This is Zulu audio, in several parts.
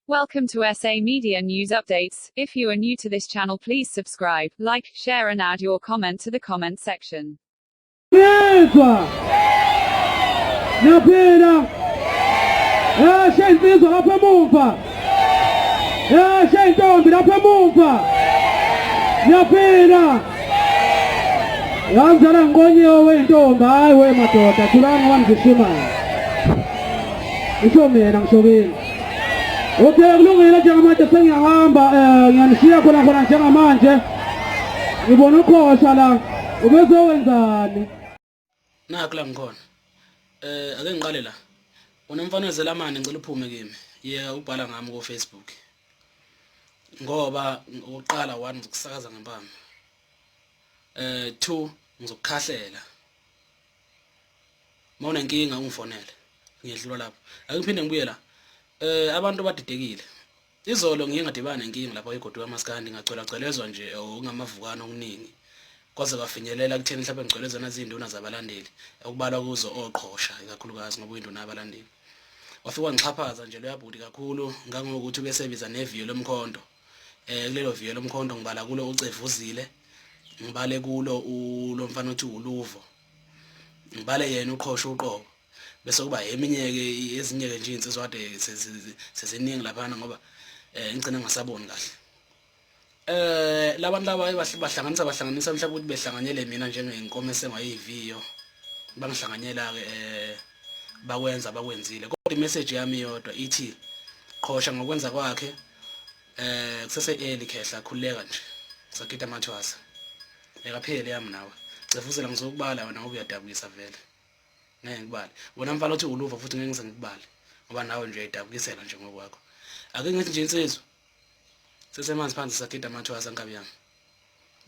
Welcome to SA Media News Updates. If you are new to this channel, please subscribe, like, share, and add your comment to the comment section. yamzala ngiqonyiwe wentombi hayi wemadoda thulani wangishimana ngisho mina ngisho kini Okay, kulungile njengamanje sengiyahamba um ngiyanishiya khona khona njengamanje ngibona ukhosha la ubezowenzani nakho la ngikhona um ake ngiqale la unomfana wezelamane ngicela uphume kimi ye ubhala ngami kofacebook ngoba ukuqala one ngizokusakaza ngempama um two ngizokukhahlela mawune nkinga ungifonele ngiyedlula lapho akungiphinde ngibuye la eh abantu badidekile izolo ngiye ngadibana nenkinga lapho igodi kamaskandi ngagcwela gcwelezwa nje eh, okungamavukana okuningi kwaze kwafinyelela kutheni mhlawumbe ngigcwelezana zinduna zabalandeli okubalwa kuzo oqhosha ikakhulukazi ngoba uyinduna yabalandeli wafika ngixhaphaza nje loyabhuti kakhulu ngangokuthi ubesebiza neviyo lomkhonto eh kulelo viyo lomkhonto ngibala kulo ucevuzile ngibale kulo ulomfana othi uluvo ngibale yena uqhosha uqobo bese kuba eminye ke ezinye ke nje insizwa kade seziningi laphana ngoba eh ngicina ngasaboni kahle eh labantu laba bahlanganisa bahlanganisa mhlawumbe ukuthi behlanganyele mina njengenkomo esengayiviyo bangihlanganyela ke eh bakwenza bakwenzile kodwa imessage yami yodwa ithi qhosha ngokwenza kwakhe eh kusese early khehla khuleka nje sakita mathwasa ekaphele yami nawe cefuzela ngizokubala wena ngoba uyadabukisa vele ngeke ngikubale wena mfana othi uluva futhi ngeke ngize ngikubale ngoba nawe nje uyadabukisela nje ngokwakho ake ngithi nje insizwa sesemanzi phansi sakita mathwasa nkabi yami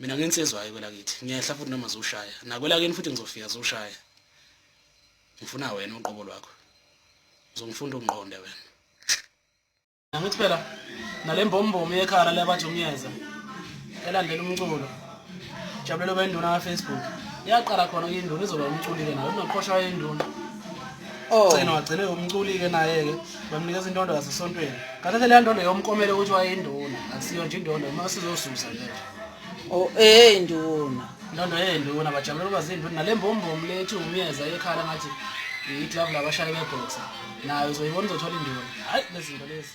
mina ngensizwa hayi kwelakithi ngiyehla futhi noma zoshaya nakwelakini futhi ngizofika zoshaya ngifuna wena uqobo lwakho uzongifunda ungiqonde wena Ngithi phela nalembombomi yekhala lebajunyeza elandela umculo jabulelo benduna kaFacebook yaqala khona induna izoba umculike nayo unoqhosha wayenduna Oh. Gcina wagcine umculike naye-ke bamnikeza indondo yasesontweni. Kanti leya ndondo yomkomele ukuthi wayeyinduna, akusiyo nje indondo, uma sizosusa nje. Oh eh nduna. Ndondo eh nduna bajabulela ukuba zinduna nalembombom lethi umyeza ekhala ngathi iglove labashaya beboxer nayo uzoyibona uzothola induna. Hayi lezinto lezi.